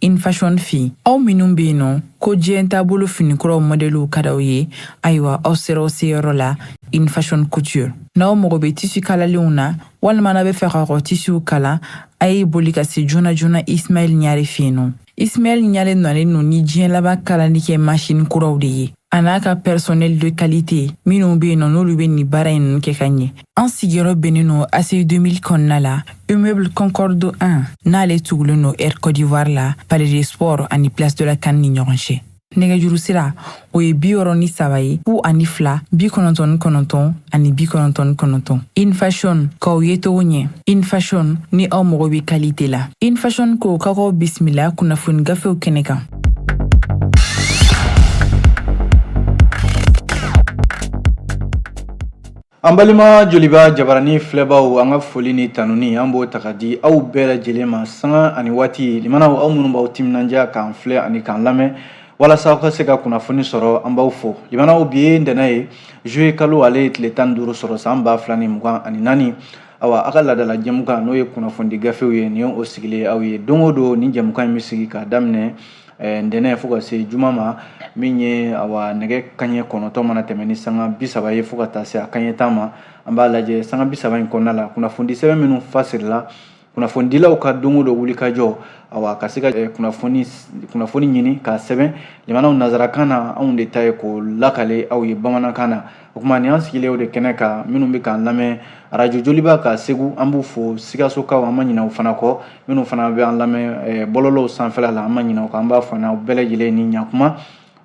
in fashion fi aw minnu bɛ yen nɔ ko diɲɛ taabolo finikuraw mɔdɛliw ka d'aw ye ayiwa aw sera aw seyɔrɔ la in fashion couture n'aw mago bɛ tisi kalalenw na walima n'a b'a fɛ ka kɔ tisiw kala a ye boli ka se joona joona ismail ɲare fɛ yen nɔ ismail ɲare nalen don ni diɲɛ laban kalali kɛ masini kuraw de ye a n'a ka personnel de qualité minnu be yen nɔ n'olu be nin baara ɲi ninnu kɛ ka ɲɛ an sigiyɔrɔ bɛnnen don aci 2000 kɔnɔna la immeuble concorde 1 n'ale tugulen don air côte d'ivoire la palais des sports ani place de la can ni ɲɔgɔn cɛ nɛgɛjuru sira o ye bi wɔɔrɔ ni saba ye fu ani fila bi kɔnɔntɔn ni kɔnɔntɔn ani bi kɔnɔntɔn ni kɔnɔntɔn in fashion k'aw yecogo ɲɛ in fashion ni aw mago be kalite la in fashion ko k'aw k'aw bisimila kunnafoni gafew kɛnɛ kan An balima joliba jabarani filɛbaw an ka foli ni tanuni an b'o ta ka di aw bɛɛ lajɛlen ma sanga ani waati limanaw aw minnu b'aw timinandiya k'an filɛ ani k'an lamɛn walasa aw ka se ka kunnafoni sɔrɔ an b'aw fo limanaw bi ye ntɛnɛn ye juillet kalo ale ye tile tan ni duuru sɔrɔ san ba fila ni mugan ani naani awa a ka laadala jɛmukan n'o ye kunnafoni gafew ye nin o sigilen aw ye don o don ni jɛmukan in bɛ sigi k'a daminɛ eh, ntɛnɛn fo ka se juma ma min ye awa nɛgɛ kaɲɛ kɔnɔntɔn mana tɛmɛ ni sanga bi saba ye fo ka taa se a kaɲɛ tan ma an b'a lajɛ sanga bi saba in kɔnɔna la kunnafoni sɛbɛn minnu fasirila kunnafonidilaw ka don o don wulikajɔ awa ka se ka eh, kunnafoni kunnafoni ɲini k'a sɛbɛn limanaw nazarakan na anw de ta ye k'o lakale aw ye bamanankan na o tuma nin an sigilen o de kɛnɛ kan minnu bɛ k'an lamɛn arajo joliba ka segu an b'u fo sikasokaw an ma ɲinɛ u fana kɔ minnu fana bɛ an lamɛn bɔlɔlɔw sanfɛla la an ma ɲinɛ u kɔ an b'a fɔ n'aw bɛɛ lajɛlen ni ɲakuma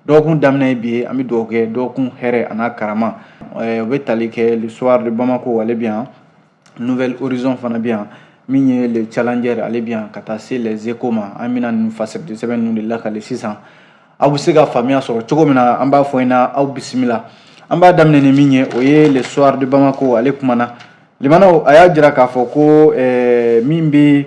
dɔgɔkun daminɛ ye bi ye an bɛ dugawu kɛ dɔgɔkun hɛrɛ an'a karama o bɛ tali kɛ le soir de bamako ale bɛ yan nouvel horizon fana bɛ yan min ye le challenger ale bɛ yan ka taa se les échos ma an bɛna ninnu fasiri de sɛbɛn ninnu de lakale sisan aw bɛ se ka faamuya sɔrɔ cogo min na an b'a fɔ in na aw bisimila an b'a daminɛ ni min ye o ye le soir de bamako ale kumana limanaw a y'a jira k'a fɔ ko eh, min bɛ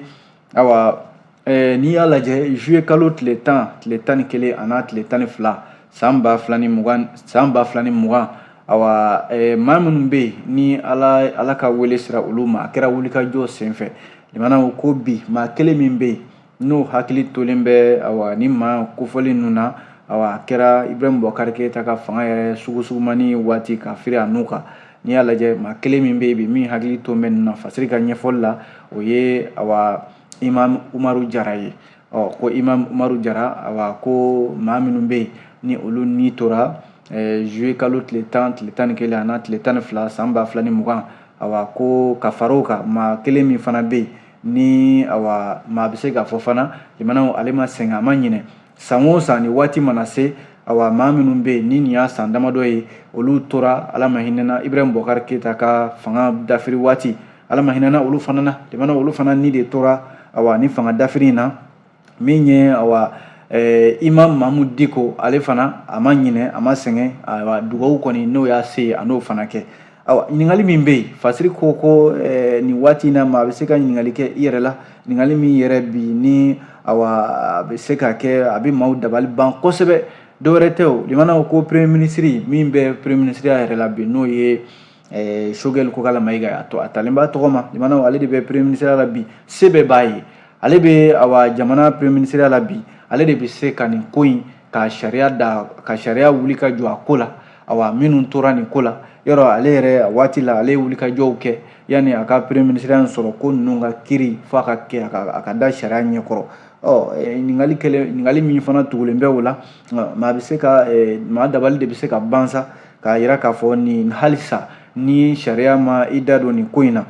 ayiwa eh, n'i y'a lajɛ juillet kalo tile tan tile tan ni kelen a n'a tile tan ni fila san ba fila ni mugan san ba fila ni mugan ayiwa eh, maa minnu bɛ yen ni ala ala ka wele sera olu ma a kɛra wulikajɔ senfɛ limanaw ko bi maa kelen min bɛ yen n'o hakili tolen bɛ ayiwa ni maa kofɔlen ninnu na ayiwa a kɛra ibrahim bubakari keyita ka fanga yɛrɛ sugusugumanni waati ka firi a n'u kan n'i y'a lajɛ maa kelen min bɛ yen bi min hakili to bɛ nin na fasiri ka ɲɛfɔli la o ye awa imam umaru jara ye ɔ ko imam umaru jara awa ko maa minnu bɛ yen ni olu ni tora juye eh, kalo tile tan tile tan ni kelen an'a tile tan ni fila san ba fila ni mugan awa ko ka far'o kan maa kelen min fana bɛ yen ni awa maa bɛ se k'a fɔ fana limanaw ale ma sɛgɛn a ma ɲinɛ san o san ni waati mana se awa maa minnu bɛ yen ni nin y'a san damadɔ ye olu tora ala ma hinɛna ibrahim bubakari keyita ka fanga dafiri waati ala ma hinɛna olu fana na limanaw olu fana ni de tora awa ni fanga dafiri in na min ye awa eh, imam mamudu diko ale fana a ma ɲinɛ a ma sɛgɛn awa dugawu kɔni n'o y'a se a n'o fana kɛ awa ɲininkali min bɛ yen fasiri ko ko eh, nin waati in na maa bɛ se ka ɲininkali kɛ i yɛrɛ la ɲininkali min yɛrɛ bi ni awa a bɛ se ka kɛ a bɛ maaw dabali ban kosɛbɛ dɔwɛrɛ tɛ o limanaw ko premier minisiri min bɛ premier minisiriya yɛrɛ la bi n'o ye eh, sogɛli kokala mayiga ye a tɔ a talen b'a tɔgɔ ma limanaw ale de bɛ premier minisiriya la bi se bɛɛ b'a ye ale bɛ awa jamana premier minisiriya la bi ale de bɛ se ka nin ko in ka sariya wuli ka jɔ a ko la awa minnu tora nin ko la yɔrɔ ale yɛrɛ waati la ale ye wulikajɔw kɛ yanni a ka premier minisiriya sɔrɔ ko ninnu ka kiri f'a ka kɛ a ka, a ka da sariya ɲɛkɔrɔ ɔ ɲininkali min fana tugulen bɛ o la maa bɛ se ka maa dabali de bɛ se ka ban sa k'a yira k'a fɔ nin halisa ni sariya ma i da don nin ko in na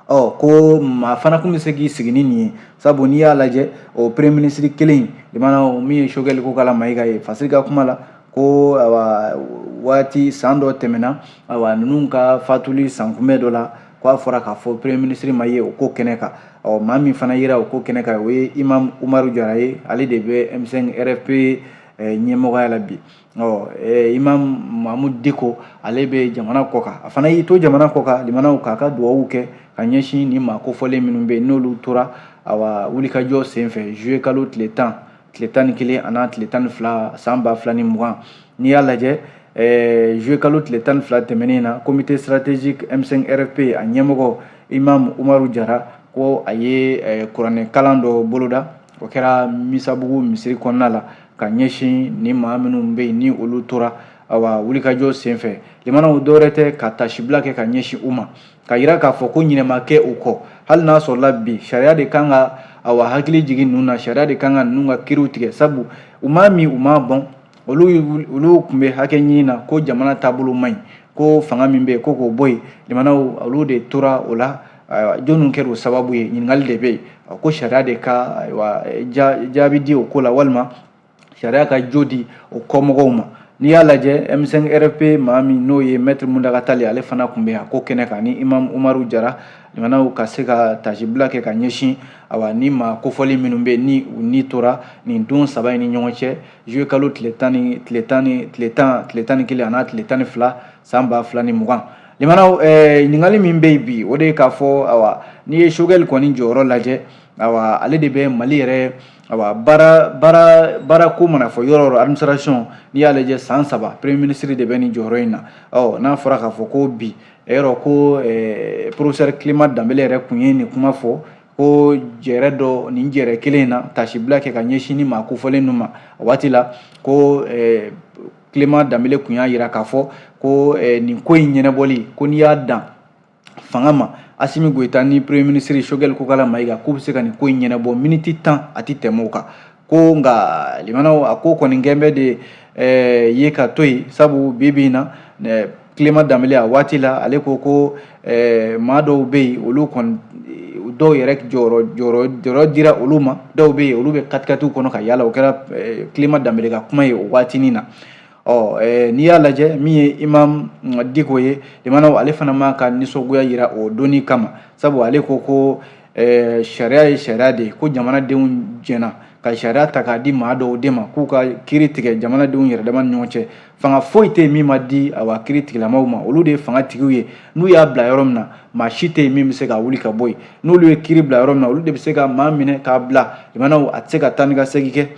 ɔ ko maa fana kun bɛ se k'i sigi ni nin ye sabu n'i y'a lajɛ o premier ministre kelen in limanaw min ye sogɛli kokala mayiga ye fasiri ka kuma la ko awa waati san dɔ tɛmɛna awa ninnu ka fatuli sankunbɛn dɔ la ko a fɔra k'a fɔ premier ministre ma ye o ko kɛnɛ kan ɔ maa min fana yera o ko kɛnɛ kan o ye imam umaru jara ye ale de bɛ m5 rfp ɲɛmɔgɔya la bi ɔ eh, imam mamudu diko ale bɛ jamana kɔ kan a fana y'i to jamana kɔ kan limanaw k'a ka dugawu kɛ ka ɲɛsin ni maa kofɔlen minnu bɛ yen n'olu tora awa wulikajɔ senfɛ juye kalo tile tan tile tan ni kelen an'a tile tan ni fila san ba fila ni mugan n'i y'a lajɛ eh, juye kalo tile tan ni fila tɛmɛnen na comité stratégique m5 rfp a ɲɛmɔgɔ imam umaru jara ko a ye eh, kuranɛ kalan dɔ boloda o kɛra misabugu misiri kɔnɔna la ka ɲɛsin ni maa minnu bɛ yen ni olu tora awa wulikajɔ senfɛ limanaw dɔwɛrɛ tɛ ka taasibila kɛ ka ɲɛsin u ma k'a yira k'a fɔ ko ɲinɛ ma kɛ u kɔ hali n'a sɔrɔla bi sariya de kan ka awa hakili jigin ninnu na sariya de kan ka ninnu ka kiriw tigɛ sabu u m'a min u m'a bɔn olu tun bɛ hakɛ ɲini na ko jamana taabolo man ɲi ko fanga min bɛ yen ko k'o bɔ yen limanaw olu de tora o la ayiwa jɔnniw kɛra o sababu ye ɲininkali de bɛ yen ko sariya de ka ayiwa jaabi di o ko la walima sariya ka jo di o kɔmɔgɔw ma n'i y'a lajɛ M5 RFP maa min n'o ye Maître Muntaga Tall ale fana tun bɛ yan ko kɛnɛ kan ni Imam Umaru Jara limanaw ka se ka tasibila kɛ ka ɲɛsin awa ni maa kofɔli minnu bɛ ni u ni tora nin don saba in ni ɲɔgɔn cɛ juillet kalo tile tan tile tan ni kelen an'a tile tan ni fila san ba fila ni mugan limanaw eh, ɲininkali min bɛ yen bi o de ye k'a fɔ awa n'i ye Choguel kɔni jɔyɔrɔ lajɛ awa ale de bɛ mali yɛrɛ awa baara baara baara ko mana fɔ yɔrɔ o yɔrɔ administration n'i y'a lajɛ san saba premier ministre de bɛ nin jɔyɔrɔ in na ɔ n'a fɔra k'a fɔ ko bi e yɔrɔ ko eh, professeur clement danbele yɛrɛ kun ye nin kuma fɔ ko jɛrɛ dɔ nin jɛrɛ kelen in na tasibila kɛ ka ɲɛsin ni maa kofɔlen ninnu ma waati la ko eh, clement danbele kun y'a jira k'a fɔ ko eh, nin ko in ɲɛnɛbɔli ko n'i y'a dan fanga ma asimi goyita ni premier ministre Choguel kokala mayiga k'u bɛ se ka nin ko in ɲɛnɛbɔ miniti tan a tɛ tɛmɛ o kan ko nka limanaw a ko kɔni gɛnbɛ de eh, ye ka to yen sabu bi bi in na eh, clement danbele a waati la ale ko ko eh, maa dɔw bɛ yen olu kɔni dɔw yɛrɛ jɔyɔrɔ dira olu ma dɔw bɛ yen olu bɛ katikatiw kɔnɔ ka yaala o kɛra eh, clement danbele ka kuma ye o waatinin na ɔ eh, n'i y'a lajɛ min ye imam diko ye limanaw ale fana ma ka nisɔngoya yira o don nin kama sabu ale ko ko sariya ye sariya de ye ko jamanadenw jɛna ka sariya ta k'a di maa dɔw de ma k'u ka kiri tigɛ jamanadenw yɛrɛ dama ni ɲɔgɔn cɛ fanga foyi tɛ yen min ma di awa kiri tigilamaw ma olu de ye fanga tigiw ye n'u y'a bila yɔrɔ min na maa si tɛ yen min bɛ se ka wuli ka bɔ yen n'olu ye kiri bila yɔrɔ min na olu de bɛ se ka maa minɛ k'a bila limanaw a tɛ se ka taa ni ka segin kɛ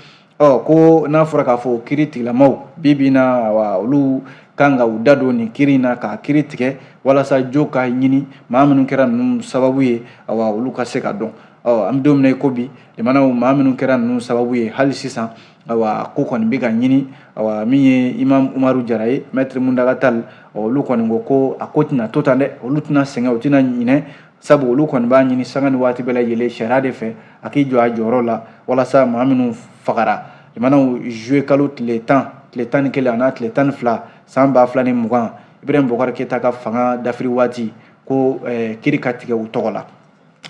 ɔ ko n'a fɔra k'a fɔ kiri tigilamaw bi bi in na awa olu kan ka u da don nin kiri in na k'a kiri tigɛ walasa jo ka ɲini maa minnu kɛra ninnu sababu ye awa olu ka se ka dɔn ɔ an bɛ don min na i ko bi limanaw maa minnu kɛra ninnu sababu ye hali sisan awa ko kɔni bɛ ka ɲini awa min ye imam umaru jara ye mɛtiri muntaga tali olu kɔni ko ko a ko tɛna to tan dɛ olu tɛna sɛgɛn u tɛna ɲinɛ sabu olu kɔni b'a ɲini sanga ni waati bɛɛ lajɛlen sariya de fɛ a k'i jɔ a jɔyɔrɔ la walasa maa minnu fagara limanaw juillet kalo tile tan tile tan ni kelen an'a tile tan ni fila san ba fila ni mugan ibirahim bubakari keyita ka fanga dafiri waati ko eh, kiri ka tigɛ u tɔgɔ la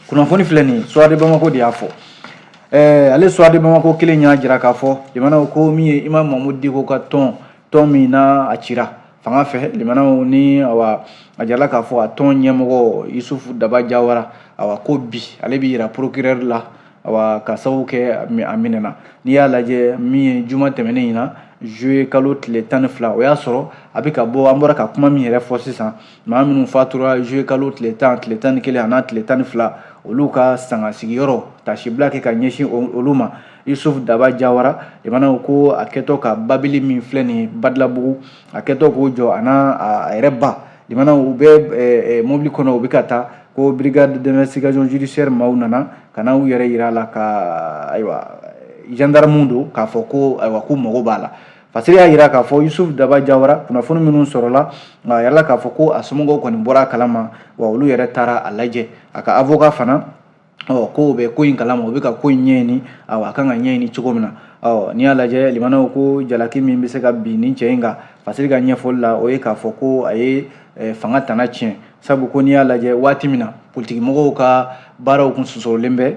kunnafoni filɛ nin ye soir de bamako de y'a fɔ ɛɛ ale soir de bamako kelen y'a jira k'a fɔ limanaw ko min ye imam mahmud diko ka tɔn tɔn min na a cira fanga fɛ limanaw ni awa a jarala k'a fɔ a tɔn ɲɛmɔgɔ yusufu daba jawara awa ko bi ale bɛ yira procureur la awa ka sababu kɛ a minɛna n'i y'a lajɛ min ye juma tɛmɛnen in na juillet kalo tile tan ni fila o y'a sɔrɔ a bɛ ka bɔ an bɔra ka kuma min yɛrɛ fɔ sisan maa minnu fatura juillet kalo tile tan tile tan ni kelen an'a tile tan ni fila olu ka sanga sigiyɔrɔ tasibila kɛ ka ɲɛsin olu ma yusuf daba jawara limanaw ko a kɛtɔ ka babili min filɛ nin ye badalabugu a kɛtɔ k'o jɔ a n'a a yɛrɛ ba limanaw u bɛ eh, eh, mobili kɔnɔ u bɛ ka taa ko brigade d'investigation judiciaire maaw nana ka na u yɛrɛ yira a la ko ayiwa gendarmew don k'a fɔ ko ayiwa k'u mago b'a la Fasiri y'a jira k'a fɔ Yusuf Daba Jawara kunnafoni minnu sɔrɔla a yɛrɛ la k'a fɔ ko a somɔgɔw kɔni bɔra a kalama wa olu yɛrɛ taara a lajɛ a ka avocat fana ɔ k'o bɛ ko in kalama u bɛ ka ko in ɲɛɲini awa a kan ka ɲɛɲini cogo min na ɔ n'i y'a lajɛ limanaw ko jalaki min bɛ se ka bin nin cɛ in kan Fasiri ka ɲɛfɔli la o ye k'a fɔ ko a ye eh, fanga tana tiɲɛ sabu ko n'i y'a lajɛ waati min na politikimɔgɔw ka baaraw kun sosorolen bɛ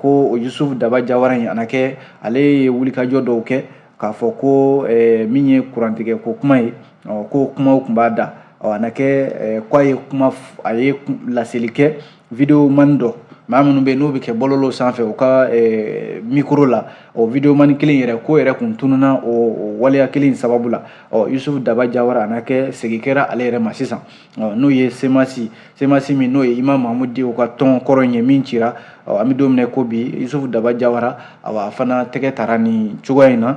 ko Yusuf Daba Jawara in a na kɛ ale ye wulikajɔ dɔw kɛ k'a fɔ ko eh, min ye kurantigɛ ko kuma ye ɔ k'o kumaw kun b'a da ɔ a na kɛ eh, k'a ye kuma a ye laseli kɛ video mani dɔ maa minnu bɛ yen n'o bɛ kɛ bɔlɔlɔw sanfɛ u ka eh, mikoro la o video mani kelen yɛrɛ k'o yɛrɛ kun tununna o waleya kelen sababu la ɔ yusufu daba jawara a na kɛ segin kɛra ale yɛrɛ ma sisan n'o ye semasi semasi min n'o ye imam mahamudu diko ka tɔn kɔrɔ in ye min cira an bɛ don min na ko bi yusufu daba jawara a fana tɛgɛ tara nin cogoya in na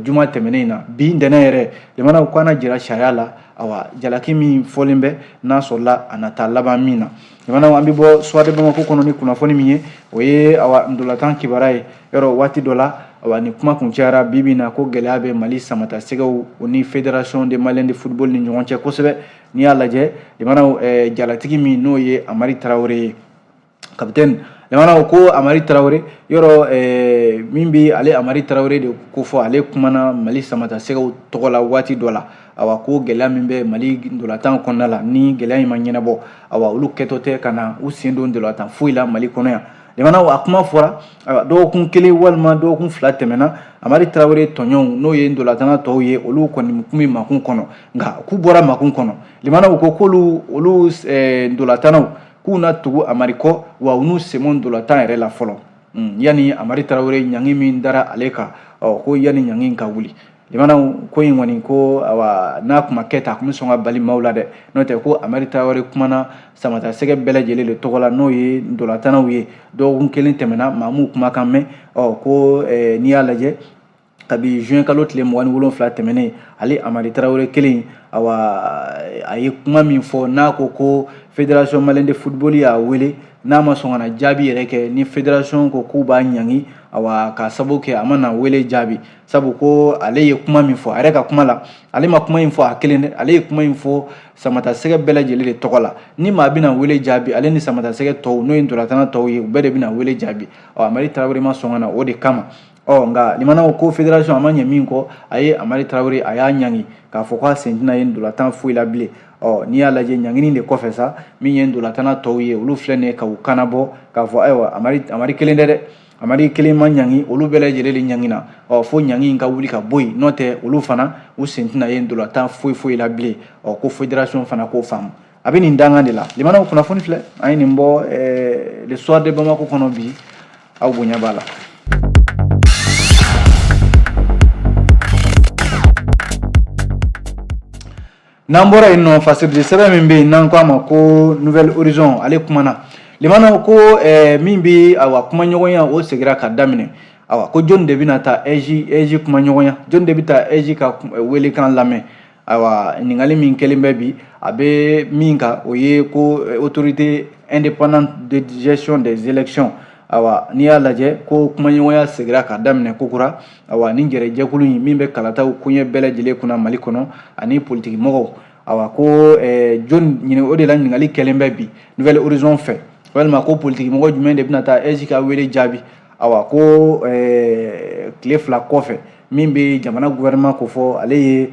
juma tɛmɛnen in na bi ntɛnɛn yɛrɛ jamana ko a na jira sariya la awa jalaki min fɔlen bɛ n'a sɔrɔla a na taa laban min na jamanaw an bɛ bɔ soir de bamako kɔnɔ ni kunnafoni min ye o ye awa ndolatan kibaruya yɔrɔ waati dɔ la awa ni kuma kun cayara bi bi na ko gɛlɛya bɛ mali samata sɛgɛw o ni federation de malien de football ni ɲɔgɔn cɛ kosɛbɛ n'i y'a lajɛ jamanaw eh, jalatigi min n'o ye amari tarawele ye kapitɛni jamana ko amari tarawele yɔrɔ eh, min bɛ ale amari tarawele de kofɔ ale kumana mali samata sɛgɛw tɔgɔ la waati dɔ la awa ko gɛlɛya min bɛ mali ndolatan kɔnɔna la ni gɛlɛya in ma ɲɛnabɔ awa olu kɛtɔ tɛ ka na u sen don ndolatan foyi la mali kɔnɔ yan jamana a kuma fɔra dɔgɔkun kelen walima dɔgɔkun fila tɛmɛna amari tarawele tɔɲɔgɔnw n'o ye ndolatana tɔw ye olu kɔni kun bɛ makun kɔnɔ nka k'u bɔra makun kɔnɔ jamana ko k'olu olu ndolatanaw k'u na tugu amari kɔ wa u n'u sen bɔ ndolatan yɛrɛ la fɔlɔ Mm, yani amari tarawele ɲangi min dara ale kan ɔ ko yani ɲangi in ka wuli jamana ko in kɔni ko awa n'a kun ma kɛ tan a kun bɛ sɔn ka bali maaw la dɛ n'o tɛ ko amari tarawele kumana samata sɛgɛ bɛɛ lajɛlen de tɔgɔ la n'o ye ndolatanaw ye dɔgɔkun kelen tɛmɛna maa m'u kumakan mɛn ɔ ko eh, n'i y'a lajɛ kabi juin kalo tile mugan ni wolonfila tɛmɛnen ale amari tarawele kelen awa a ye kuma min fɔ n'a ko ko fédération malienne de football y'a wele n'a ma sɔn ka na jaabi yɛrɛ kɛ ni fédération ko k'u b'a ɲangi awa ka sabu kɛ a ma na wele jaabi sabu ko ale ye kuma min fɔ a yɛrɛ ka kuma la ale ma kuma in fɔ a kelen dɛ ale ye kuma in fɔ samata sɛgɛ bɛɛ lajɛlen de tɔgɔ la ni maa bɛna wele jaabi ale ni samata sɛgɛ tɔw n'o ye ntolatana tɔw ye u bɛɛ de bɛna wele jaabi ɔ amari tarawele ma sɔn ka na o de kama ɔ nka limana ko fédération a ma ɲɛ min kɔ a ye amari tarawele a y'a ɲangi k'a fɔ k'a sen tɛna ye ndolatan foyi la bilen ɔ n'i y'a lajɛ ɲangini de kɔfɛ sa min ye ndolatana tɔw ye olu filɛ nin ye ka u kan nabɔ k'a fɔ ayiwa amari amari kelen tɛ dɛ amari kelen ma ɲangi olu bɛɛ lajɛlen de ɲangina ɔ fo ɲangi in ka wuli ka bɔ yen n'o tɛ olu fana u sen tɛna ye ndolatan foyi foyi la bilen ɔ ko fédération fana k'o faamu a bɛ nin dangan de la limanaw kunnafoni filɛ an ye nin bɔ eh, le soir de bamako kɔnɔ bi aw bonya b'a la n'an bɔra yen nɔ fasiridi sɛbɛn min bɛ yen n'an ko a ma ko nouvel horizon ale kumana limanaw ko eh, min bɛ awa kumaɲɔgɔnya o segira ka daminɛ awa ko jɔni de bɛna taa aige aige kumaɲɔgɔnya jɔni de bɛ taa aige ka eh, welekan lamɛn ayiwa ɲininkali min kɛlen bɛ bi a bɛ min kan o ye ko eh, autorité indépendante de gestion des élections ayiwa n'i y'a lajɛ ko kumaɲɔgɔnya segira ka daminɛ kokura ayiwa ni jɛrɛjɛkulu in min bɛ kalataw koɲɛ bɛɛ lajɛlen kunna mali kɔnɔ ani politikimɔgɔw ayiwa ko eh, jɔni o de la ɲininkali kɛlen bɛ bi nouvel horizon fɛ walima ko politikimɔgɔ jumɛn de bɛna taa aige ka wele jaabi ayiwa ko eh, tile fila kɔfɛ min bɛ jamana gouvernement kofɔ ale ye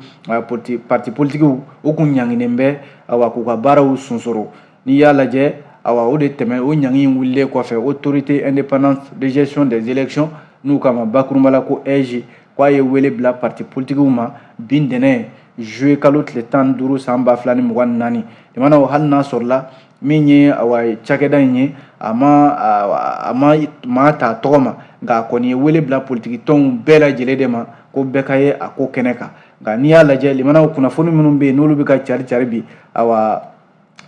parti politikiw u kun ɲanginen bɛ awa k'u ka baaraw sunsoro n'i y'a lajɛ awa o de tɛmɛ o ɲangi in wulilen kɔfɛ autorité indépendante de gestion des élections n'u k'a ma bakurunba la ko aige k'a ye wele bila parti politikiw ma bi ntɛnɛn juillet kalo tile tan ni duuru san ba fila ni mugan ni naani jamana hali n'a sɔrɔla min ye awa cakɛda in ye a ma a ma maa ta tɔgɔ ma nka a kɔni ye wele bila politiki tɔnw bɛɛ lajɛlen de ma ko bɛɛ ka ye a ko kɛnɛ kan nka n'i y'a lajɛ limanaw kunnafoni minnu bɛ yen n'olu bɛ ka cari cari bi awa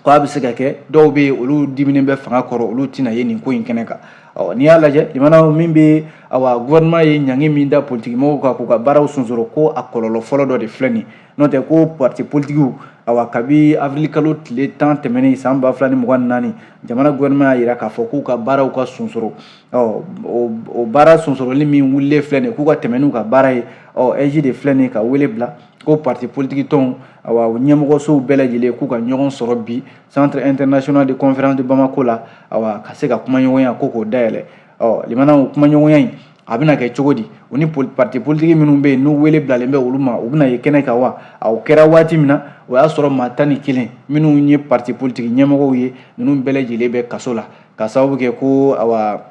ko a bɛ se ka kɛ dɔw bɛ yen olu diminen bɛ fanga kɔrɔ olu tɛna ye nin ko in kɛnɛ kan ɔ n'i y'a lajɛ limanaw min bɛ awa gouvernement ye ɲangi min da politikimɔgɔw kan k'u ka baaraw sonsoro ko a kɔlɔlɔ fɔlɔ dɔ de filɛ nin ye N'o tɛ ko parti politikiw a kabi avril kalo tile tan tɛmɛnen san ba fila ni mugan ni naani jamana gouvernement y'a jira k'a fɔ k'u ka baaraw ka sunsoro ɔ o baara sunsoroli min wulilen filɛ nin k'u ka tɛmɛn n'u ka baara ye ɔ aige de filɛ nin ka wele bila ko parti politiki tɔnw a ɲɛmɔgɔsow bɛɛ lajɛlen k'u ka ɲɔgɔn sɔrɔ bi centre international de conférence de bamako la a ka se ka kumaɲɔgɔnya ko k'o dayɛlɛ ɔ limanaw kumaɲɔgɔnya in a bɛna kɛ cogo di u ni parti politiki minnu bɛ yen n'u wele bilalen bɛ olu ma u bɛna ye kɛnɛ kan wa o kɛra waati min na o y'a sɔrɔ maa tan ni kelen minnu ye parti politiki ɲɛmɔgɔw ye ninnu bɛɛ lajɛlen bɛ kaso la ka sababu kɛ ko awa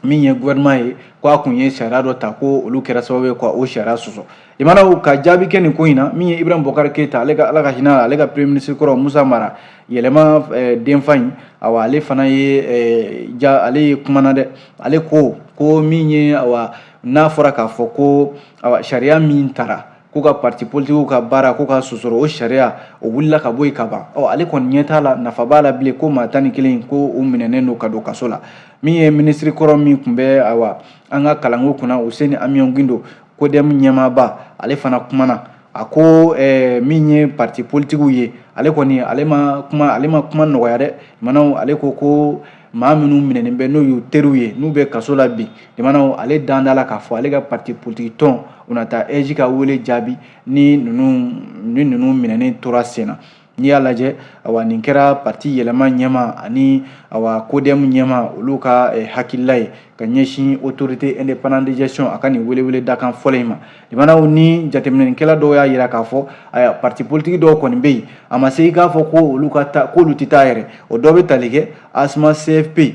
min ye gouvernement ye ko a tun ye sariya dɔ ta ko olu kɛra sababu ye ka o sariya sɔsɔ limanaw ka jaabi kɛ nin ko in na min ye ibrahim bubakar keyita ale ka ala ka hinɛ ale ka premier ministre kɔrɔ musa mara yɛlɛma eh, denfa in awa ale fana ye eh, ja ale ye kumana dɛ ale ko ko min ye awa n'a fɔra k'a fɔ ko awa sariya min tara ko ka parti politikiw ka baara k'o ka sonsoro o sariya o wulila ka bɔ yen ka ban ɔ ale kɔni ɲɛ t'a la nafa b'a la bilen ko maa tan ni kelen ko u minɛnen don ka don kaso la min ye minisiri kɔrɔ min tun bɛ awa an ka kalanko kunna useni amiɔn gindo kodɛmu ɲɛmaaba ale fana kumana a ko min ye parti politikiw ye ale kɔni ale ma kuma nɔgɔya dɛ limanaw ale ko ko maa minnu minɛnen bɛ n'o y'u teriw ye n'u bɛ kaso la bi limanaw ale dalen t'a la k'a fɔ ale ka parti politiki tɔn u na taa aige ka wele jaabi ni ninnu minɛnen tora sen na n'i y'a lajɛ awa nin kɛra parti yɛlɛma ɲɛmaa ani awa kodɛmu ɲɛmaa olu ka eh, hakilila ye ka ɲɛsin autorité indépendante de gestion a ka nin welewele dakan fɔlɔ in ma limanaw ni jateminɛkɛla dɔw y'a yira k'a fɔ awa parti politiki dɔw kɔni bɛ yen a ma se i k'a fɔ ko olu ka ta k'olu tɛ taa yɛrɛ o dɔ bɛ tali kɛ asma cfp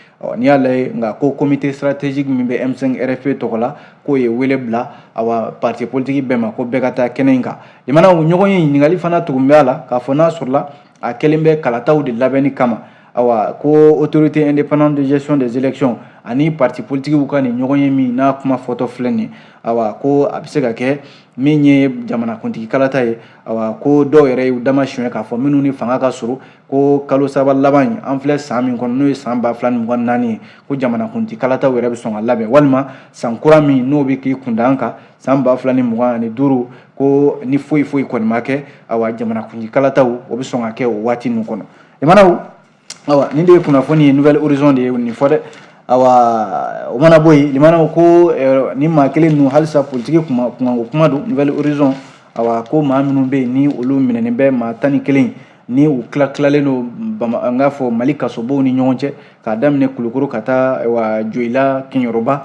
ɔ n'i y'a lajɛ nka ko comité stratégique min bɛ M5 RFP tɔgɔ la k'o ye wele bila awa parti politique bɛɛ ma ko bɛɛ ka taa kɛnɛ in kan limanaw ɲɔgɔnye ɲininkali fana tugun bɛ a la k'a fɔ n'a sɔrɔla a kɛlen bɛ kalataw de labɛnni kama awa ko autorité indépendante de gestion des élections ani parti politikiw ka nin ɲɔgɔnye min n'a kuma fɔtɔ filɛ nin awa ko a bɛ se ka kɛ min ye jamanakuntigi kalata ye awa ko dɔw yɛrɛ y'u dama suɲɛ k'a fɔ minnu ni fanga ka surun ko kalo saba laban in an filɛ san min kɔnɔ n'o ye san ba fila ni mugan naani ye ko jamanakuntigi kalataw yɛrɛ bɛ sɔn ka labɛn walima san kura min n'o bɛ k'i kunda an kan san ba fila ni mugan ani duuru ko ni foyi foyi kɔni ma kɛ awa jamanakuntigi kalataw o bɛ sɔn ka kɛ o waati ninnu kɔnɔ limanaw awa nin de ye kunnafoni ye nouvel horizon de ye nin fɔ dɛ awa o mana bɔ yen limanaw ko eh, nin maa kelen ninnu halisa politiki kunkanko kuma don nouvel horizon awa ko maa minnu bɛ yen ni olu minɛnen bɛ maa tan ni kelen ni u tilatilalen don n k'a fɔ mali kasobonw ni ɲɔgɔn cɛ k'a daminɛ kulukoro ka taa awa joyila kɛɲɛrɔba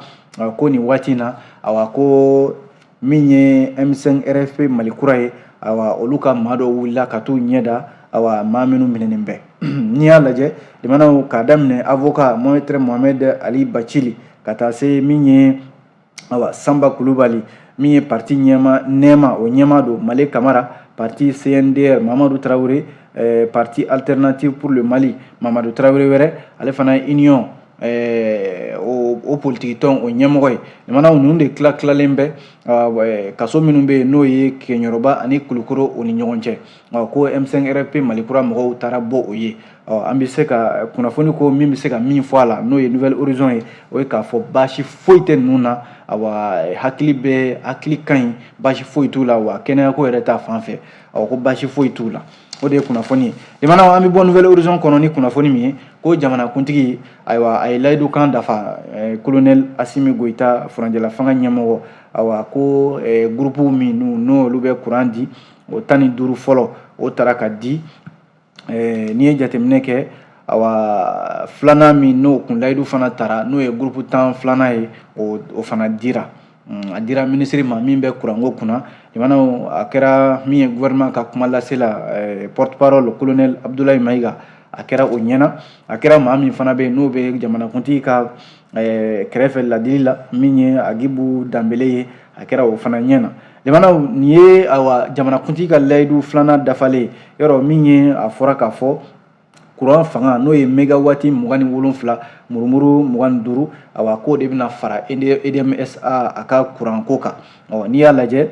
ko nin waati in na awa ko min ye m5 rfp mali kura ye awa olu ka maa dɔw wulila ka t'u ɲɛ da awa maa minnu minɛnen bɛ n'i y'a lajɛ limanaw k'a daminɛ avoka maître mohamed ali bacili ka taa se min ye awa sanba kulubali min ye parti ɲɛma nɛɛma o ɲɛmaa don male kamara parti cndr mamadu tarawele eh, parti alternative pour le mali mamadu tarawele wɛrɛ ale fana ye union eh, o, o politikitɔn o ɲɛmɔgɔ ye limanaw ninnu de tila tilalen bɛ eh, kaso minnu bɛ yen n'o ye keɲɛrɔba ani kulukoro o ni ɲɔgɔn cɛ ko m5 rfp malikura mɔgɔw taara bɔ o ye ɔ an bɛ se ka kunnafoni ko min bɛ se ka min fɔ a la n'o ye nouvel horizon ye o ye k'a fɔ baasi foyi tɛ ninnu na awa hakili bɛ hakili ka ɲi baasi foyi t'u la wa kɛnɛyako yɛrɛ ta fan fɛ ɔ ko baasi foyi t'u la o de ye kunnafoni ye limanaw an bɛ bɔ nouvel horizon kɔnɔ ni kunnafoni min ye ko jamanakuntigi ayiwa a ye layidu kan dafa kolonɛli eh, asimi goyita furancɛla fanga ɲɛmɔgɔ awa ko eh, gurupuw min n'olu bɛ kuran di o tan ni duuru fɔlɔ o tara ka di ɛɛ n'i ye jateminɛ kɛ awa filanan min n'o kun layidu fana tara n'o ye gurupu tan filanan ye o o fana dira mm, a dira minisiri ma min bɛ kuranko kunna limanaw a kɛra min ye gouvernement ka kuma lasela eh, porte parole colonel abdoulaye mayiga a kɛra o ɲɛna a kɛra maa min fana bɛ yen n'o bɛ jamanakuntigi ka eh, kɛrɛfɛ ladilila min ye agibu danbele ye a kɛra o fana ɲɛna limanaw nin ye awa jamanakuntigi ka layidu filanan dafalen yɔrɔ min ye a fɔra k'a fɔ kuran fanga n'o ye megawati mugan ni wolonfila murumuru mugan ni duuru awa k'o de bɛna fara edmsa a ka kuranko kan ɔ n'i y'a lajɛ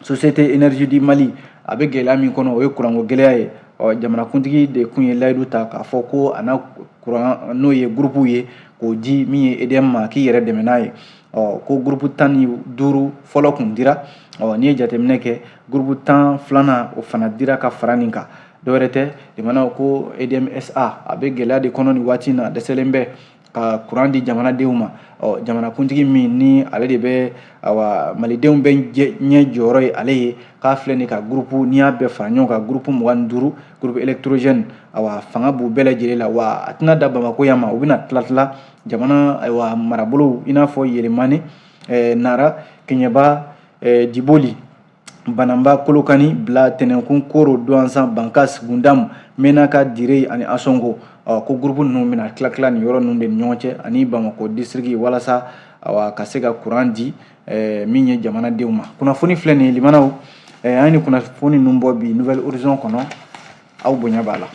société énergie du mali a bɛ gɛlɛya min kɔnɔ o ye kuranko gɛlɛya ye ɔ jamanakuntigi de kun ye layidu ta k'a fɔ ko a na kuran n'o ye gurupuw ye k'o di min ye edm ma k'i yɛrɛ dɛmɛ n'a ye ɔ ko gurupu tan ni duuru fɔlɔ kun dira ɔ n'i ye jateminɛ kɛ gurupu tan filanan o fana dira ka fara nin kan dɔwɛrɛ tɛ limanaw ko edmsa a bɛ gɛlɛya de kɔnɔ nin waati in na dɛsɛlen bɛ ka kuran di jamanadenw ma ɔ jamanakuntigi min ni ale de bɛ awa malidenw bɛɛ ɲɛ jɔyɔrɔ ye ale ye k'a filɛ nin ka gurupu n'i y'a bɛɛ fara ɲɔgɔn kan gurupu mugan ni duuru gurupu elɛkitorozɛni awa fanga b'u bɛɛ lajɛlen la wa a tɛna dan bamako yan ma u bɛna tila tila jamana ayiwa marabolow i n'a fɔ yelemani eh, nara keɲɛba eh, diboli bananba kolokani bila tɛnɛnkun koro duwanzan bankas gundamu menaka dire ani asongo ɔ ko gurupu ninnu bɛna tila tila nin yɔrɔ ninnu de ni ɲɔgɔn cɛ ani bamakɔ disiriki walasa awa ka se ka kuran di eh, min ye jamanadenw ma kunnafoni filɛ nin ye limanaw eh, an ye nin kunnafoni ninnu bɔ bi nouvel horizon kɔnɔ aw bonya b'a la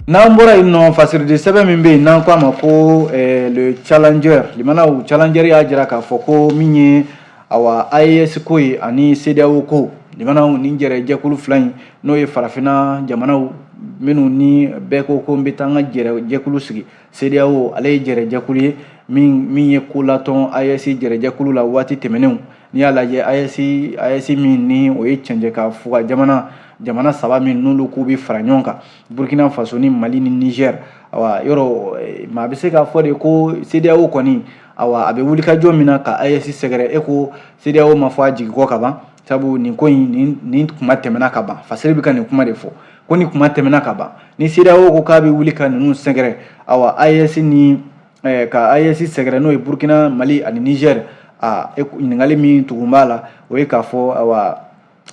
n'an bɔra yen nɔ fasiridi sɛbɛn min bɛ yen n'an k'a ma ko eh, le challenger limanaw challenger y'a jira k'a fɔ ko min ye awa AES ko ye ani CEDEAO ko limanaw nin jɛrɛ jɛkulu fila in n'o ye farafinna jamanaw minnu ni bɛɛ ko ko n bɛ taa n ka jɛrɛ jɛkulu sigi CEDEAO ale ye jɛrɛjɛkulu ye min min ye ko latɔn AES jɛrɛjɛkulu la waati tɛmɛnenw n'i y'a lajɛ AES AES min ni o ye cɛncɛn ka fuga jamana jamana saba min n'olu k'u bɛ fara ɲɔgɔn kan Burkina Faso ni Mali ni Niger awa yɔrɔ eh, maa bɛ se k'a fɔ de ko CEDEAO kɔni awa a bɛ wulikajɔ min na ka AES sɛgɛrɛ e ko CEDEAO ma fɔ a jigi kɔ ka ban sabu nin ko in nin nin kuma tɛmɛna ka ban fasiri bɛ ka nin kuma de fɔ ko nin kuma tɛmɛna ka ban ni CEDEAO ko k'a bɛ wuli ka ninnu sɛgɛrɛ awa AES ni eh, ka AES sɛgɛrɛ n'o ye Burkina Mali ani Niger a e ɲininkali min tugun b'a la o ye k'a fɔ awa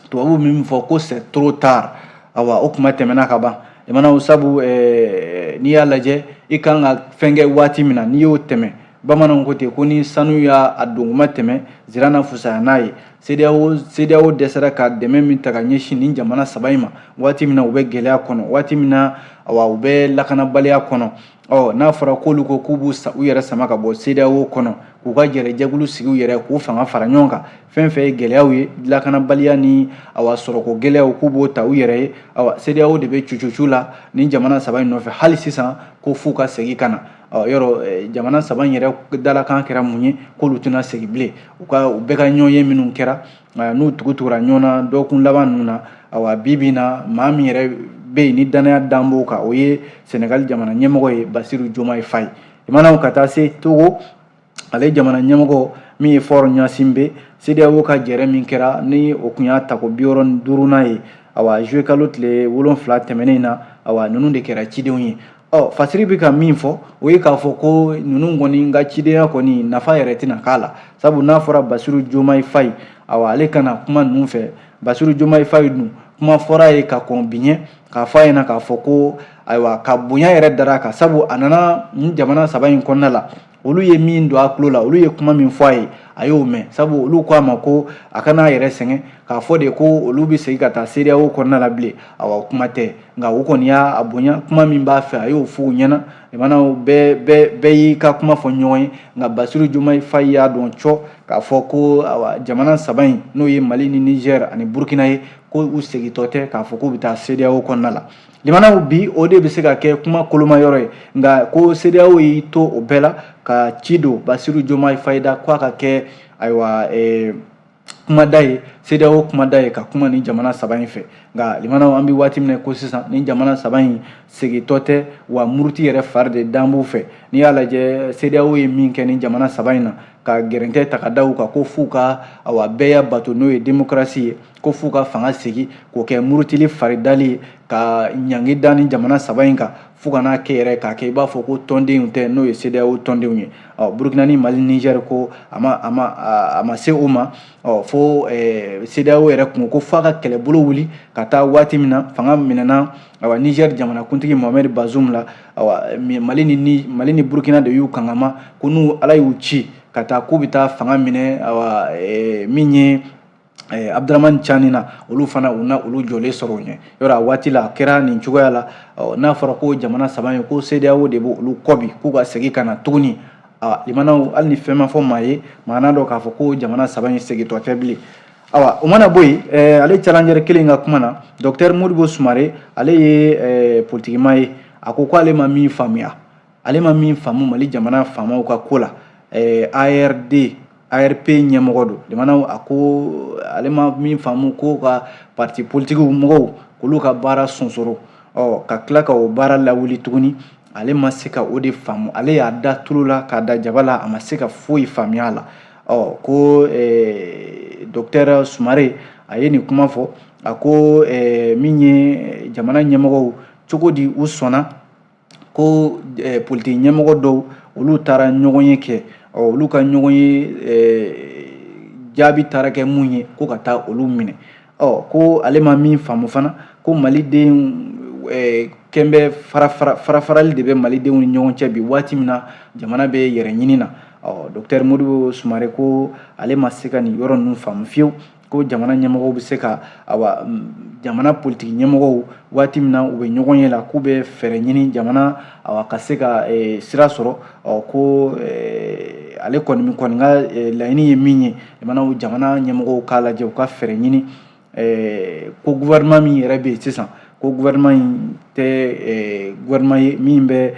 tubabuw min fɔ ko c'est trop tard awa o kuma tɛmɛna ka ban limanaw sabu eh, n'i y'a lajɛ i kan ka fɛn kɛ waati min na n'i y'o tɛmɛ bamananw ko ten ko ni sanu y'a donkuma tɛmɛ zira na fusaya n'a ye CEDEAO CEDEAO dɛsɛra ka dɛmɛ min ta ka ɲɛsin nin jamana saba in ma waati min na u bɛ gɛlɛya kɔnɔ waati min na awa u bɛ lakanabaliya kɔnɔ ɔ n'a fɔra k'olu ko k'u b'u u yɛrɛ sama ka bɔ CEDEAO kɔnɔ k'u ka jɛrɛjɛkulu sigi u yɛrɛ k'u fanga fara ɲɔgɔn kan fɛn fɛn ye gɛlɛyaw ye lakanabaliya ni awa sɔrɔko gɛlɛyaw k'u b'o ta u yɛrɛ ye awa CEDEAO de bɛ cucucu la nin jamana saba in nɔfɛ hali sisan ko f'u ka segin ka na Ɔ yɔrɔ eh, jamana saba in yɛrɛ dalakan kɛra mun ye k'olu tɛna segin bilen u ka u bɛɛ ka ɲɔgɔnye minnu kɛra eh, n'u tugutugura ɲɔgɔn na dɔgɔkun laban ninnu na awa bi bi na maa min yɛrɛ bɛ yen ni dannaya dan b'o kan o ye senegali jamana ɲɛmɔgɔ ye basiru jomayi fayi limanaw ka taa se togo ale jamana ɲɛmɔgɔ min ye fɔr ɲasinbɛ sedeyawo ka jɛrɛ min kɛra ni o tun y'a tako biwɔɔrɔ ni duurunan ye awa zuye kalo tile wolonfila tɛmɛnen na awa ninnu de kɛra cidenw ye ɔ fasiri bɛ ka min fɔ o ye k'a fɔ ko ninnu kɔni ka cidenya kɔni nafa yɛrɛ tɛna k'a la sabu n'a fɔra basiru jomayi fayi awa ale ka na kuma ninnu fɛ basiru jomayi fayi dun kuma fɔra a ye ka kɔn bi ɲɛ k'a fɔ a ɲɛna k'a fɔ ko ayiwa ka bonya yɛrɛ dara a kan sabu a nana nin jamana saba in kɔnɔna la olu ye min don a tulo la olu ye kuma min fɔ a ye a y'o mɛn sabu olu ko a ma ko a kana a yɛrɛ sɛgɛn k'a fɔ de ko olu bɛ segin ka taa sedeyawo kɔnɔna la bilen awa kuma tɛ nka u kɔni y'a bonya kuma min b'a fɛ a y'o fɔ u ɲɛna jamanaw bɛɛ bɛɛ bɛɛ y'i ka kuma fɔ ɲɔgɔn ye nka basiru jomayi fayi y'a dɔn cɔ k'a fɔ ko awa jamana saba in n'o ye mali ni nizɛr ani burukina ye ko u segintɔ tɛ k'a fɔ k'u bɛ taa sedeyawo kɔnɔna la Limanaw bi o de bɛ se ka kɛ kuma koloma yɔrɔ ye nka ko CEDEAO y'i to o bɛɛ la ka ci don Bassirou Diomaye Faye da k'a ka kɛ ayiwa kumada ye CEDEAO kumada ye ka kuma ni jamana saba in fɛ nka limanaw an bɛ waati min na ko sisan ni jamana saba in segintɔ tɛ wa muruti yɛrɛ fari de dan b'u fɛ n'i y'a lajɛ CEDEAO ye min kɛ ni jamana saba in na ka gɛrɛntɛ ta ka da u kan ko f'u ka bɛɛya bato n'o ye démocratie ye ko f'u ka fanga segin k'o kɛ murutili faridali ye ka ɲangi da ni jamana saba in kan fo ka n'a kɛ yɛrɛ k'a kɛ i b'a fɔ ko tɔndenw tɛ n'o ye CEDEAO tɔndenw ye ɔ Burukina ni Mali Niger ko a ma a ma a ma se o ma ɔ fo ɛɛ CEDEAO yɛrɛ kun ko f'a ka kɛlɛbolo wuli ka taa waati min na fanga minɛna awa Niger jamanakuntigi Mohamed Bazoum la awa Mali ni Mali ni Burukina de y'u kangama ko n'u Ala y'u ci ka taa k'u bɛ taa fanga minɛ awa min ye Eh, Abdourahamane Tiani na olu fana u na olu jɔlen sɔrɔ u ɲɛ yɔrɔ a waati la a kɛra nin cogoya la n'a fɔra ko jamana saba in ko CEDEAO de b'olu kɔ bi k'u ka segin ka na tuguni limanaw hali ni fɛn ma fɔ maa ye maa n'a dɔn k'a fɔ ko jamana saba in segintɔ tɛ bilen awa o mana bɔ yen eh, ale Challenger kelen ka kuma na docteur modibo sumare ale ye eh, politikima ye a ko k'ale ma min faamuya ale ma min faamu mali jamana faamaw ka ko la eh, ARD ARP ɲɛmɔgɔ don limanaw a ko ale ma min faamu ko ka parti politikiw mɔgɔw k'olu ka baara sonsoro ɔ ka tila ka o baara lawuli tuguni ale ma se ka o de faamu ale y'a da tulu la k'a da jaba la a ma se ka foyi faamuya a la ɔ ko eh, docteur sumare a ye nin kuma fɔ a ko eh, min ye jamana ɲɛmɔgɔw cogo di u sɔnna ko politiki ɲɛmɔgɔ dɔw olu taara ɲɔgɔn ye kɛ olu ka ɲɔgɔn ye jaabi taara kɛ mun ye ko ka taa olu minɛ ɔ ko ale ma min faamu fana ko malidenw kɛlen bɛ farafarali de bɛ malidenw ni ɲɔgɔn cɛ bi waati min na jamana bɛ yɛrɛ ɲini na ɔ docteur modibo sumare ko ale ma se ka nin yɔrɔ ninnu faamu fiyewu ko jamana ɲɛmɔgɔw bɛ se ka awa jamana politiki ɲɛmɔgɔw waati min na u bɛ ɲɔgɔn ye la k'u bɛ fɛɛrɛ ɲini jamana awa ka se ka e, sira sɔrɔ ɔ ko e, ale kɔni kɔni ka e, laɲini ye min ye jamanaw jamana ɲɛmɔgɔw k'a lajɛ u ka fɛɛrɛ ɲini ko gouvernement min yɛrɛ bɛ yen sisan ko gouvernement in tɛ gouvernement ye min bɛ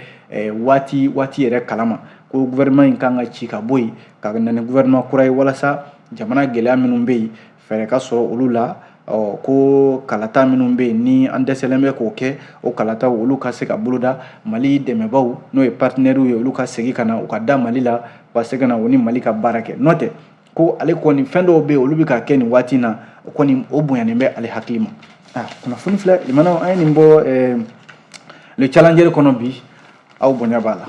waati waati yɛrɛ kalama ko gouvernement in kan ka ci ka bɔ yen ka na ni gouvernement kura ye walasa jamana gɛlɛya minnu bɛ yen fɛɛrɛ ka sɔrɔ olu la ɔ ko kalata minnu bɛ yen ni an dɛsɛlen bɛ k'o kɛ o kalataw olu ka se ka boloda mali dɛmɛbaw n'o ye partenaires ye olu ka segin ka na u ka da mali la u ka se ka na u ni mali ka baara kɛ n'o tɛ ko ale kɔni fɛn dɔw bɛ yen olu bɛ ka kɛ nin waati in na o kɔni o bonyanen bɛ ale hakili ma ah, kunnafoni filɛ limanaw an ye nin bɔ eh, le challenger kɔnɔ bi aw bonya b'a la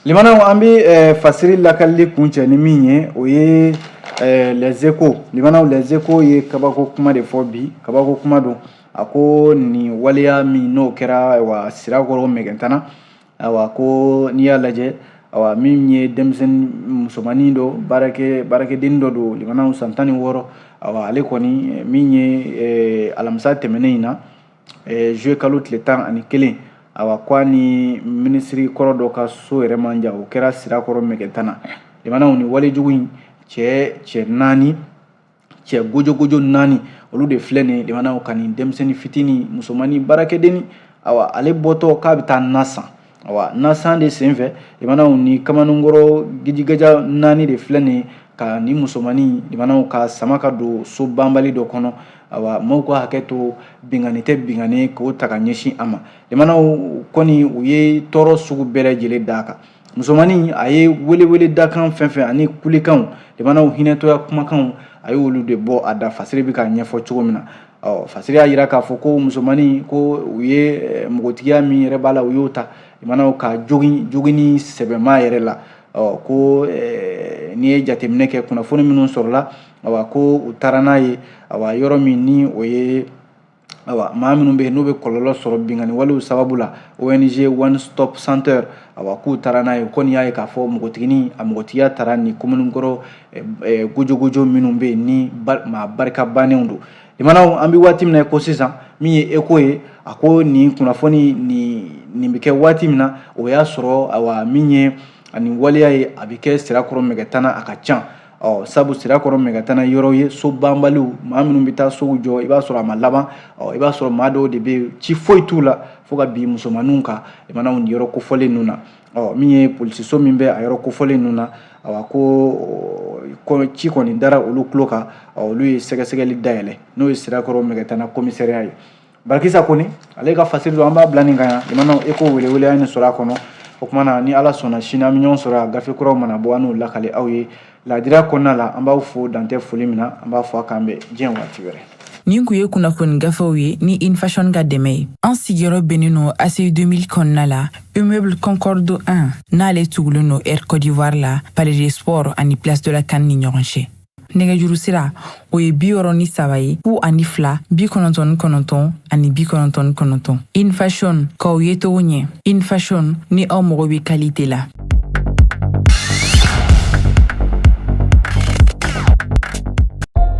Limanaw an bɛ eh, fasiri lakalili kuncɛ ni min ye o ye eh, les échos limanaw les échos ye kabako kuma de fɔ bi kabako kuma don a ko nin waleya min n'o kɛra wa sirakɔrɔ mɛgɛtana ayiwa ko n'i y'a lajɛ ayiwa min ye denmisɛnnin musomannin dɔ baarakɛ baarakɛden dɔ don limanaw san tan ni wɔɔrɔ ayiwa ale kɔni min ye eh, alamisa tɛmɛnen in na eh, juillet kalo tile tan ani kelen ayiwa ko a ni minisiri kɔrɔ dɔ ka so yɛrɛ man jan o kɛra sirakɔrɔ mɛgɛtana limanaw ni walejugu in cɛ cɛ naani cɛ gojogojo naani olu de filɛ nin limanaw ka nin denmisɛnnin fitinin musomannin baarakɛdenni awa ale bɔtɔ k'a bɛ taa na san awa na san de senfɛ limanaw ni kamalenkɔrɔ gijigaja naani de filɛ nin ka nin musomannin limanaw k'a sama ka don so banbali dɔ kɔnɔ awa maaw ka hakɛ to binkanni tɛ binkanni k'o ta ka ɲɛsin a ma limanaw kɔni u ye tɔɔrɔ sugu bɛɛ lajɛlen d'a kan musomannin a ye weleweledakan fɛn fɛn ani kulekanw limanaw hinɛtɔya kumakanw a ye olu de bɔ a da fasiri bɛ k'a ɲɛfɔ cogo min na ɔ fasiri y'a jira k'a fɔ ko musomannin ko u ye npogotigiya min yɛrɛ b'a la u y'o ta limanaw k'a jogin joginni sɛbɛma yɛrɛ la ɔ ko n'i ye jateminɛ kɛ kunnafoni minnu sɔrɔla awa ko u taara n'a ye awa yɔrɔ min ni o ye awa maa minnu bɛ yen n'u bɛ kɔlɔlɔ sɔrɔ binkanni walew sababu la ong one stop center awa k'u taara n'a ye ko n'i y'a ye k'a fɔ npogotigini a npogotigiya tara nin kamalenkɔrɔ eh, eh, gojogojo minnu bɛ yen ni maa barika bannenw don limanaw an bɛ waati min na ko sisan min ye échos ye a ko nin kunnafoni nin nin bɛ kɛ waati min na o y'a sɔrɔ awa min ye ani waleya ye a bɛ kɛ sirakɔrɔ mɛgɛtana a ka can ɔ sabu sirakɔrɔ mɛgɛtana yɔrɔ ye so banbaliw maa minnu bɛ taa sow jɔ i b'a sɔrɔ a ma laban ɔ i b'a sɔrɔ maa dɔw de bɛ yen ci foyi t'u la fo ka bin musomaninw kan limanaw nin yɔrɔ kofɔlen ninnu na ɔ min ye polisiso min bɛ a yɔrɔ kofɔlen ninnu na awa ko ci kɔni dara olu tulo kan ɔ olu ye sɛgɛsɛgɛli dayɛlɛ n'o ye sirakɔrɔ mɛgɛtana komisariya ye barakisa kɔni ale ka fasiri don an b'a bila nin kan yan i mana echo welewele an ye nin sɔrɔ a kɔnɔ o kuma na ni ala sɔnna sini an bɛ ɲɔgɔn sɔrɔ a gafe kuraw mana bɔ an n'o lakale aw ye laadira kɔnɔna la an b'aw fo dantɛ foli min na an b'a fɔ a k'an bɛn diɲɛ waati wɛrɛ nin kun ye kunnafoni gafew ye ni infashion ka dɛmɛ ye an sigiyɔrɔ bɛnnen nɔ aci 2000 kɔnɔna la immeuble concorde 1 n'ale tugulen nɔ air cote d'ivoire la palais des sports ani place de la can ni ɲɔgɔn cɛ nɛgɛjuru sira o ye bi wɔɔrɔ ni saba ye fu ani fila bi kɔnɔntɔn ni kɔnɔntɔn ani bi kɔnɔntɔn ni kɔnɔntɔn infashion k'aw ye togo ɲɛ infashion ni aw mago bɛ kalite la